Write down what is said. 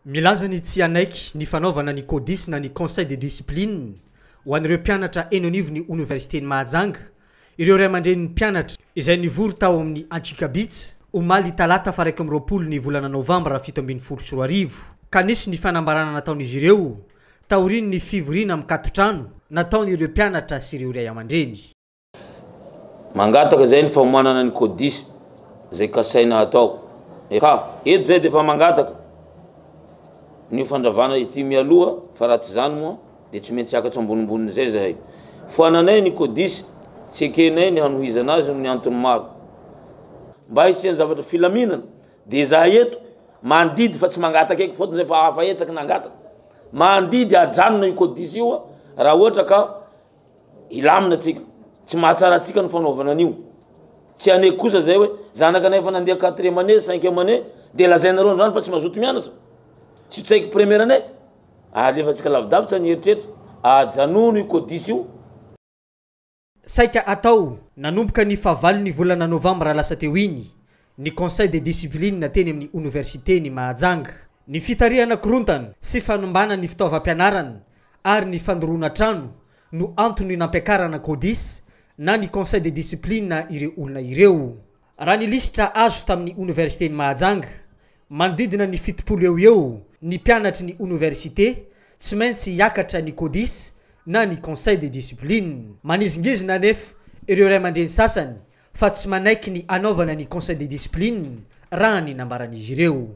Milaza ny tsy hanaiky ny fanaovana ny CODIS na ny Conseil de discipline ho an'ireo mpianatra eny anivon'ny Oniversiten'i Mahajanga ireo ray aman-drenin'ny mpianatra izay nivory tao amin'ny Anchikabits omaly talata faha iraika amby roapolo ny volana novambra fito ambin'ny folo sy roa arivo ka nisy ny fanambarana nataon'izy ireo taorian'ny fivoriana mikatotrano nataon'ireo mpianatra sy ireo ray aman-dreny. Mangataka zay ny famoanana ny codis zay kasaina hatao. Efa eto zay dia efa mangataka ny ho fandravana ity mialoha fa raha tsy izany moa dia tsy maintsy hiakatra ambonimbon'izay zahay. Foananay ny codis, tsy ekenay ny hanohizana azy noho ny antony maro. Mba hisian'ny zavatra filaminana dia izahay eto mandidy fa tsy mangataka eky fotony zay fa hafa hetsaky nangataka. Mandidy hajanona io codis io raha ohatra ka. Hilamina tsika. Tsy mahatsara antsika ny fanaovana an'io. Tsy haneky kosa zay hoe zanakanay efa nandeha quatrième année, cinquième année de lazainareo androany fa tsy mazoto mianatra. Tsy ho tsaiky première année. Alefantsika lavidavitra ny eritreritra. Ajanono io codis io. Saika atao. Nanomboka ny fahavalon'ny volana novambra lasa teo iny, ny Conseil de discipline teny amin'ny Oniversiten'i Mahajanga, ny fitarihana korontana sy fanombana ny fitaovam-pianarana ary ny fandoroana trano no antony nampiakarana Codis na ny Conseil de discipline ireo olona ireo. Raha ny lisitra azo tamin'ny Oniversiten'i Mahajanga, manodidina ny fitopolo eo ho eo ny mpianatry ny Oniversite tsy maintsy hiakatra ny Codis na ny Conseil de discipline. Manizingizina anefa ireo ray aman-dreny sasany fa tsy manaiky ny hanaovana ny conseil de discipline, raha ny nambaran'izy ireo.